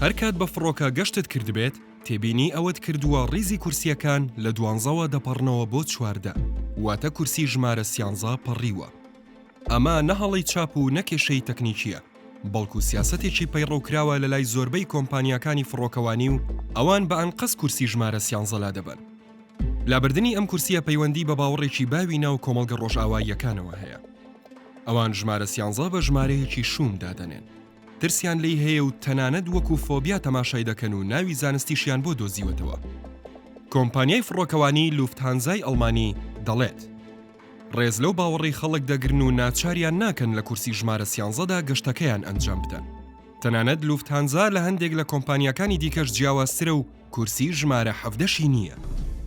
هەر کات بە فڕۆکە گەشتت کردبێت، تێبینی ئەوەت کردووە ڕیزی کورسییەکان لە دوانزەوە دەپەڕنەوە بۆ چواردە، واتە کورسی ژمارە سیانزە پەڕیوە. ئەمە نە هەڵەی چاپ و نە کێشەی تەکنیکییە، بەڵکو سیاسەتێکی پەیڕەوکراوە لەلای زۆربەی کۆمپانیاکانی فڕۆکەوانی و ئەوان بە ئەنقەست کورسی ژمارە سیانزە لادەبەن. لابردنی ئەم کورسییە پەیوەندی بە باوەڕێکی باوی ناو کۆمەڵگە ڕۆژئاواییەکانەوە هەیە. ئەوان ژمارە سیانزە بە ژمارەیەکی شووم دادەنێن. ترسیان لێی هەیە و تەنانەت وەکو فۆبیا تەماشای دەکەن و ناوی زانستیشیان بۆ دۆزیوەتەوە. کۆمپانیای فڕۆکەوانیی لوفتهانزای ئەڵمانی دەڵێت، ڕێز لەو باوەڕەی خەڵک دەگرن و ناچاریان ناکەن لە کورسی ژمارە سیانزەدا گەشتەکەیان ئەنجام بدەن. تەنانەت لوفتهانزا لە هەندێک لە کۆمپانیاکانی دیکەش جیاوازترە و کورسی ژمارە حەڤدەشی نییە.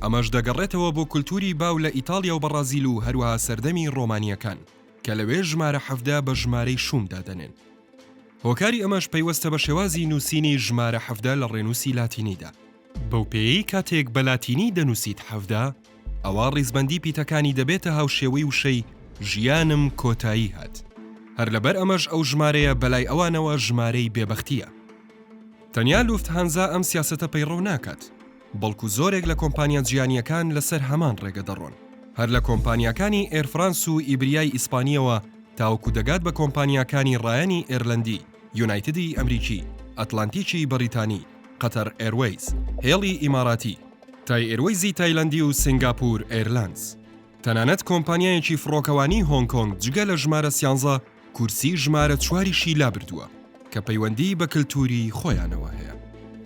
ئەمەش دەگەڕێتەوە بۆ کولتووری باو لە ئیتاڵیا و بەڕازیل و هەروەها سەردەمی ڕۆمانییەکان. کە لەوێ ژمارە حەڤدە بە ژمارەی شووم دادەنێن. هۆکاری ئەمەش پەیوەستە بە شێوازی نووسینی ژمارە حەڤدە لە ڕێنووسی لاتینیدا. بەو پێیەی کاتێک بە لاتینی دەنووسیت حەڤدە، ئەوا ڕیزبەندی پیتەکانی دەبێتە هاوشێوەی وشەی ژیانم کۆتایی هات. هەر لەبەر ئەمەش ئەو ژمارەیە بە لای ئەوانەوە ژمارەی بێبەختییە. تەنیا لوفتهانزا ئەم سیاسەتە پەیڕەو ناکات. بەڵکو زۆرێک لە کۆمپانیا جیهانییەکان لەسەر هەمان ڕێگە دەڕۆن، هەر لە کۆمپانیاکانی ئێر فرانس و ئیبریای ئیسپانییەوە تاوەکو دەگات بە کۆمپانیاکانی ڕایانی ئێرلەندی، یونایتدی ئەمریکی، ئەتلانتیکی بەڕیتانی، قەتەر ئێروەیز، هێڵی ئیماراتی، تای ئێروەیزی تایلەندی و سینگاپور ئێرلانس، تەنانەت کۆمپانیایەکی فڕۆکەوانی هۆنگ کۆنگ جگە لە ژمارە سیانزە کورسی ژمارە چواریشی لابردووە کە پەیوەندیی بە کلتووری خۆیانەوە هەیە.